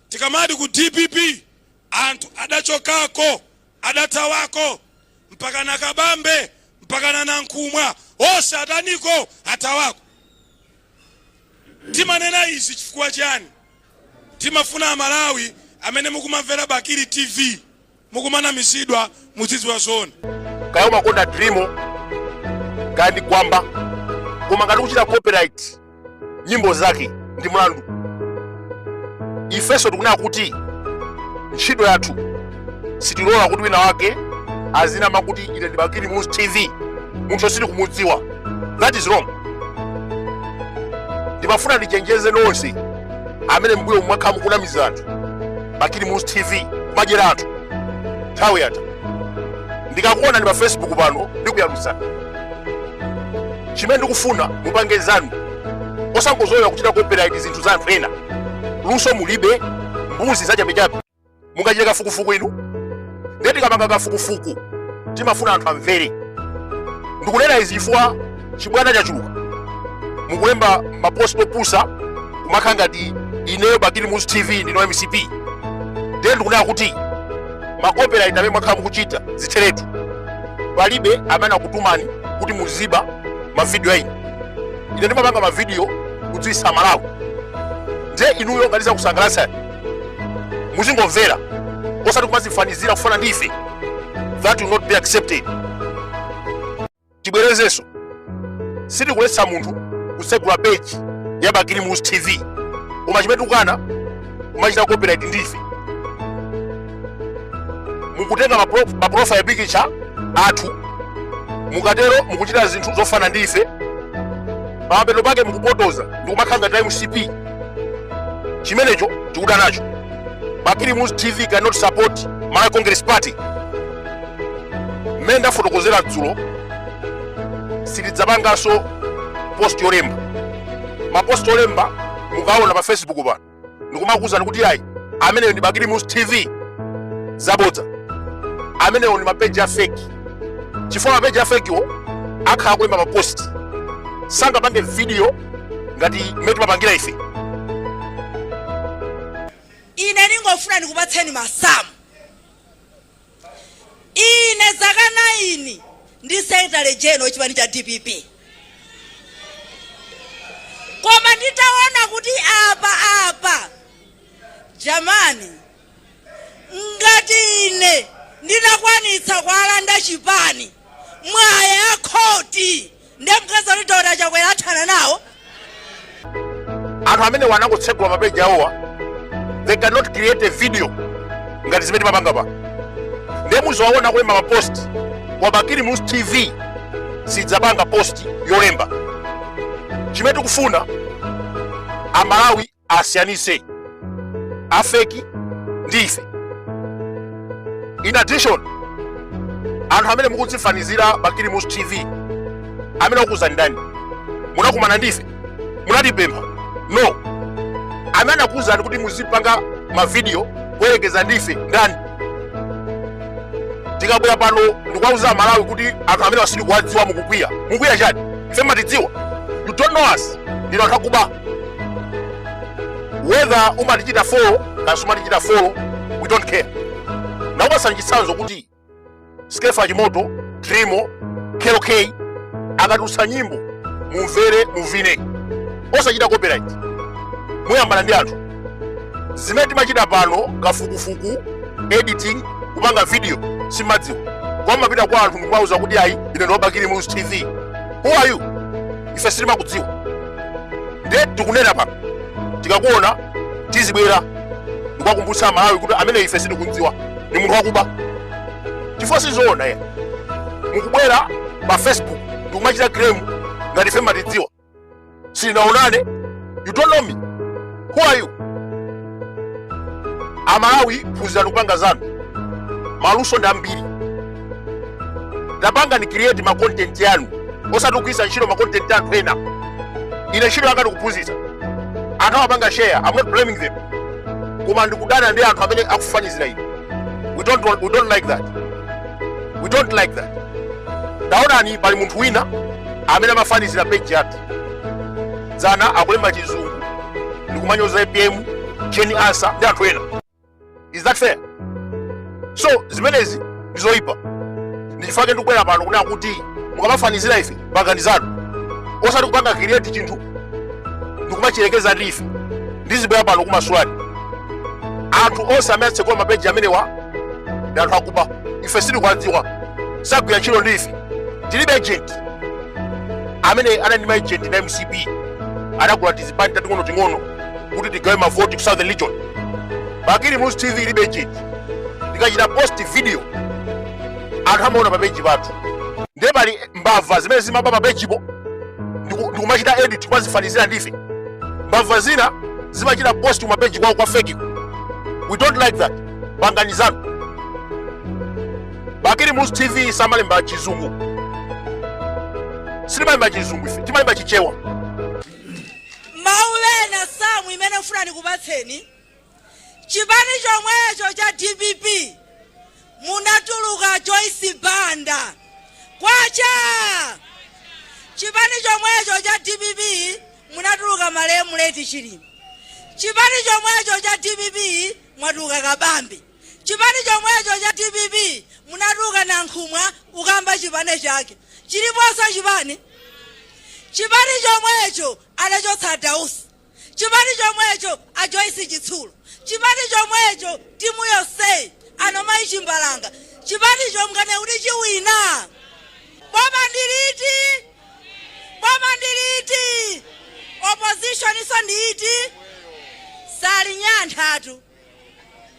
Tikamati ku dpp anthu adachokako, adathawako mpaka na Kabambe mpaka na Nankhumwa onse ataniko? Athawako. Timanena izi chifukwa chiyani? Timafuna Amalawi amene mukumamvera Bakili TV. mukumanamizidwa muzidziwa zoona. kaya umakonda Driemo kaya ndi gwamba koma ngati kuchita copyright nyimbo zake ndi mlandu ifenso tikunena kuti ntchito yathu sitilola kuti wina wake azinama kuti ine ndi bakili muluzi tv munthu osili kumudziwa that is wrong ndimafuna ndichenjeze nonse amene mbuyo mwakhala mukunamiza anthu bakili muluzi tv kumadyera anthu nthawi yatha ndikakuonani pa facebook pano ndikuyalutsani chimene ndikufuna mupange zanu osangozolowera kuchita copyright zinthu za anthu ena luso mulibe mbuzi zachabechabe mungachite kafukufuku inu ndiye tikapanga kafukufuku timafuna anthu amvere ndikunena izi chifukwa chibwana chachuluka mukulemba mapost opusa kumakhala ngati ineyo bakili muluzi tv ndine mcp ndiye ndikunena kuti macopyright amene mwakhala mukuchita zitheretu palibe amene akutumani kuti muziba mavidiyo ayi ine ndimapanga mavidiyo kudziwitsa amalawi ndiye inuyo ngati zakusangalatsani muzingomvera osati kumadzifanizira kufanana ndi ife that will not be accepted tibwerezenso sitikuletsa munthu kutsegula peji ya bakili muluzi tv koma chimene tikukana kumachita copyright ndi ife mukutenga mapro- maprofile picture athu mukatero mukuchita zinthu zofana ndi ife pamapeto pake mukupotoza ndikumakhala ngati mcp chimenecho tikudana nacho bakili muluzi tv cannot support malawi congress party mmene ndafotokozera dzulo sitidzapanganso post yolemba mapost olemba mukaona pa facebook pano ndikumakuwuzani kuti ayi ameneyo ndi bakili muluzi tv zabodza amenewo ndi mapeji a feki chifukwa mapeji a fekiwo akhala kulemba mapost sangapange video ngati mmene timapangira ife ine ndingofuna ndikupatseni masamu ine zaka 9 ndi secretary general wa chipani cha dpp koma nditaona kuti apa apa jamani Ngati ine ndinakwanitsa kuwalanda chipani mwa ya khoti nde mukadzati Dr Chakwera athana nawo. Anthu amenewa anangotsegula ma page awowa they cannot create a video ngati zimene timapanga pa nde muziwaona kulemba ma post a Bakili Muluzi TV sidzapanga post yolemba chimene tikufuna amalawi asiyanise afeki ndi ife in addition anthu amene mukudzifanizira bakili muluzi tv amene akuuzani ndani munakumana ndife munatipempha no amene anakuuzani kuti muzipanga mavidiyo kuyerekeza ndife ndani tikabwera pano ndikuwauza amalawi kuti anthu amenewa sitikuwadziwa mukukwiya mukwiya chani ife matidziwa you don't know us ndinu anthu akuba whether umatichita follow kaya sumatichita follow we don't care ndikupatsani chitsanzo kuti skeffa chimoto driemo kell kay akatulutsa nyimbo mumvere muvine osachita copyright muyambana ndi anthu zimene timachita pano kafukufuku editing kupanga video simumadziwa kumapita kwa anthu ndikumawauza kuti ayi ine ndi wa bakili muluzi tv who are you ife sitimakudziwa ndiye tikunena pano tikakuona tizibwera ndikuwakumbutsa amalawi kuti amene ife sitikumdziwa ndi munthu wakuba chifukwa sizoona ayi mukubwera pa facebook ndikumachita claim ngati ife matidziwa sitinaonane you don't know me who are you amalawi phunzirani kupanga zanu maluso ndi ambiri tapangani create ma content yanu osati kugwiritsa ntchito ma content a anthu ena ine ntchito yanga ndikuphunzitsa anthu amapanga share i'm not blaming them koma ndikudana ndi anthu amene akufanizira ine we don't like that we don't like that taonani pali munthu wina amene amafanizira page yathu dzana akulemba chizungu ndikumanyoza apm jane ansah ndi anthu ena is that fair so zimenezi ndizoyipa ndichifukwa chake ndikubwera pano kunena kuti mukamafanizira ife pangani zanu osati kupanga create chinthu ndikumachiyerekeza ndi ife ndizibwera pano kumakuuzani anthu onse amene atsekula mapeji amenewa ndi anthu akuba ife sitikuwadziwa sagwira ntchito ndi ife tilibe agent amene anali ndi maejenti a mcp anagula tizipani tating'onoting'ono kuti tigawe mavoti ku southern region bakili muluzi tv ilibe ejenti tikachita post video anthu amaona papeji pathu ndiye pali mbava zimene zimaba papejipo ndiku- ndikumachita edit kumazifanizira ndife mbava zina zimachita post kumapeji kwawo kwa feki ko we don't like that pangani zanu bakili muluzi tv samalemba chizungu sitimalemba chizungu ife timalemba chichewa mawerenga samu imene ndifuna ndikupatseni chipani chomwecho cha dpp munatuluka joyce banda kwacha chipani chomwecho cha dpp munatuluka malemu late chilima chipani chomwecho cha dpp mwatuluka kabambe Chipani chomwecho cha dpp munatuluka Nankhumwa kukayamba chipani chake chiliponso chipani? Chipani chomwecho anachotsa a Dausi, chipani chomwecho a Joyce Chitsulo, chipani chomwecho timu yonseyi ano mayi Chimbalanga, chipanicho mukanene kuti chiwina? Boma ndi liti? Boma ndi liti? Oppositionso ndi iti? Salinyanthatu.